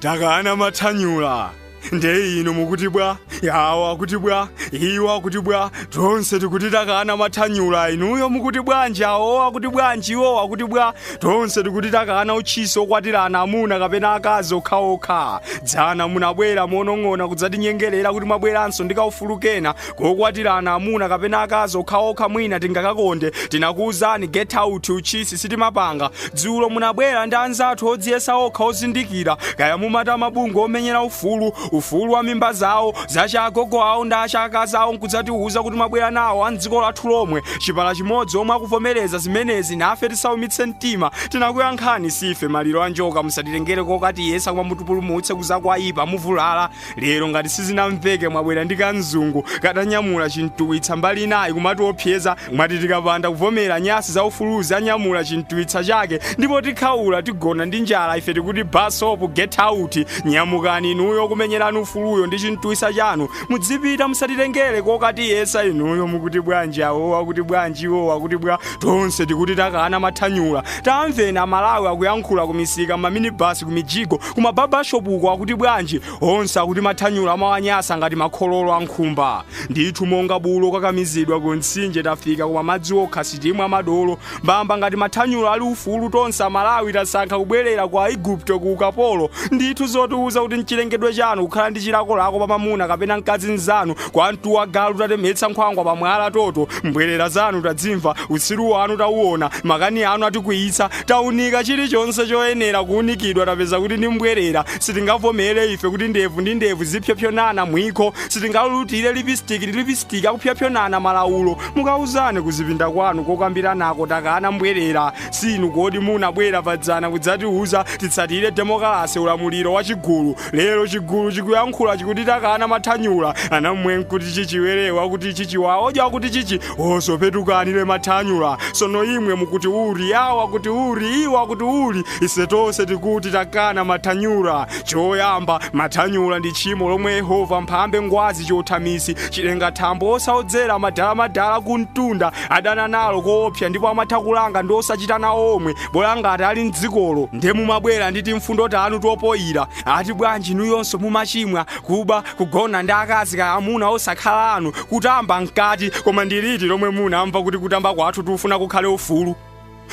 takana mathanyula nde inu mukuti bwa awo akuti bwa iwo akuti bwa tonse tikuti takana mathanyula inuyo mukuti bwanji awo akuti bwanji iwo akuti bwa tonse tikuti takana utchisi okwatirana amuna kapena akazi okhaokha dzana munabwera monong'ona kudzatinyengerera kuti mwabweranso ndi kaufulu kena kokwatirana amuna kapena akazi okhaokha mwina tingakakonde tinakuwuzani get out utchisi sitimapanga dzulo munabwera ndi anzathu odziyesa okha ozindikira kaya mumati mabungwe omenyera ufulu ufulu wa mimba zawo zacha agogo awo ndi acha akazi awo nkudzatiwuza kuti mwabwera nawo a mdziko lathu lomwe chipala chimodzi omwe akuvomereza zimenezi nafe tisaumitse mtima tinakuyankhani sife maliro a njoka musatitengere kokatiyesa koma mutipulumutse kuzakwaipa muvulala lero ngati sizinamveke mwabwera ndi kamzungu katanyamula chintuwitsa mbali inayi kumatiopseza mwati tikapanda kuvomera nyasi za ufuluzi anyamula chintuwitsa chake ndipo tikhaula tigona ndi njala ife tikuti basopu get out nyamukani inuyo kumenyerani ufuluyo ndi chintuwitsa chanu mudzipita musatitengere kokatiyesa inuyo mukuti bwanji awo akuti bwanji iwo akuti bwa tonse tikuti takana mathanyula tamveni amalawi akuyankhula kumisika mmaminibasi kumijigo kumababashopu uko akuti bwanji onse akuti mathanyula amawanyasa ngati makhololo a nkhumba ndithu monga bulu okakamizidwa ku mtsinje tafika koma madzi okha sitimwa madolo mbamba ngati mathanyula ali ufulu tonse amalawi tasankha kubwerera ku aigupto ku ukapolo ndithu zotiuza kuti nchilengedwe chanu kukhala ndi chilakolako pa mamuna kapena mkazi mzanu kwa mtu wa galu tatemetsa nkhwangwa pa mwala toto mbwerera zanu tadzimva utsiru wanu tauona makani anu atikwiyitsa Taunika chilichonse choyenera kuunikidwa tapeza kuti ndi mbwerera. Sitingavomere ife kuti ndevu ndi ndevu zipsopsonana mwikho. Sitingalulutire lipisitiki ndi lipisitiki akupsopsonana malawulo. Mukauzane kuzipinda kwanu kokambiranako takana mbwerera. Si inu kodi munabwera padzana kudzatiuza titsatire demokalase ulamuliro wa chigulu. Lero chigulu chikuyankhula chikuti takana mathanyula. Ana mmwe nkuti chichi werewa akuti chichi wawojo akuti chichi wosope tukanile mathanyula sono imwe mukuti uli awa akuti uli iwo akuti uli ise tonse tikuti takana mathanyula choyamba mathanyula ndi tchimo lomwe yehova mphambe ngwazi chothamisi chilengathambo osaodzera madalamadala kumtunda adana nalo koopsa ndipo amatha kulanga ndi osachita nawo omwe bola ngati ali mdzikolo nde mumabwera ndi timfundo tanu topoyira ati bwanji inuyonso mumachimwa kuba kugona ndi akazi kaya amuna osakhala anu kutamba mkati koma ndi liti lomwe munamva kuti kutamba kwathu tikufuna kukhale ufulu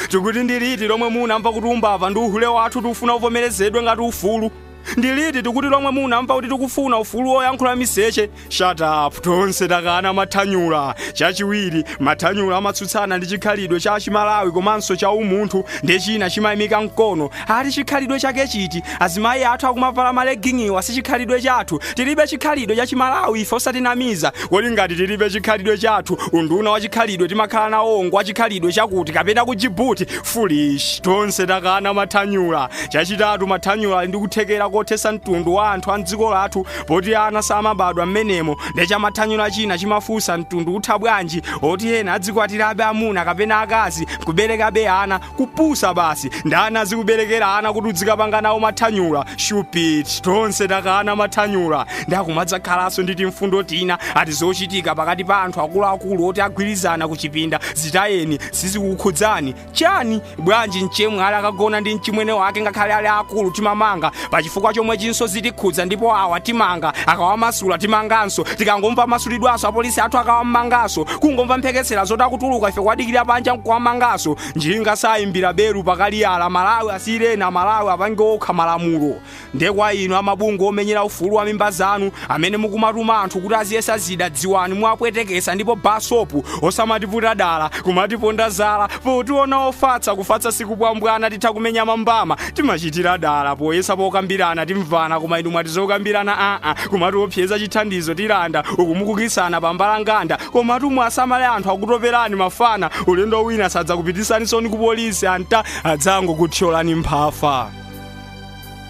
tikuti ndi liti lomwe munamva kuti umbava ndi uhule wathu tikufuna uvomerezedwe ngati ufulu ndi liti tikuti lomwe munamva kuti tikufuna ufulu woyankhula miseche shut up tonse takana mathanyula chachiwiri mathanyula amatsutsana ndi chikhalidwe cha chimalawi komanso cha umunthu ndi china chimayimika mkono Ati chikhalidwe chake chiti? Azimayi athu akumavala ma legging'iwa si chikhalidwe chathu. Tilibe chikhalidwe cha chimalawi ife osatinamiza. Kodi ngati tilibe chikhalidwe chathu, unduna wa chikhalidwe timakhala nawo ngwa chikhalidwe chakuti kapena ku Djibouti? Foolish. Tonse takana mathanyula. Chachitatu mathanyula ali ndi kuthekera kothesa mtundu wa anthu a mdziko lathu poti ana samabadwa mmenemo. Nde cha mathanyula china chimafunsa mtundu utha bwanji? Oti ena adzikwatirabe amuna kapena akazi nkuberekabe ana. kupusa basi ndani azikuberekera ana kuti udzikapanga nawo mathanyula shupit tonse takana mathanyula nde akumadzakhalanso ndi timfundo tina ati zochitika pakati pa anthu akuluakulu oti agwirizana kuchipinda zitayeni sizikukhudzani chani bwanji mchemwali akagona ndi mchimwene wake ngakhale ali akulu timamanga pachifukwa chomwechinso zitikhudza ndipo awa timanga akawamasula timanganso tikangomva amasulidwanso apolisi athu akawamanganso kungomva mphekesera zoti akutuluka ife kuwadikira panja nkuwamanganso njinga sayimbira belu pakaliyala malawi asiyireni amalawi apange okha malamulo nde kwa inu amabungwe omenyera ufulu wa mimba zanu Amene mukumatuma anthu kuti aziyesa zida dziwani muwapwetekesa ndipo basopu osamatiputa dala kumatiponda zala potiona ofatsa kufatsa sikumbwambwana titha kumenya mambama timachitira dala poyesa pokambirana timvana koma inu mwati zokambirana aa kumatiopseza chithandizo tilanda uku mukukisana pambalanganda koma atumwi asamale anthu akutoperani mafana ulendo wina sadzakupitisansoni ku polisi ata adzangokuthyolani mphafa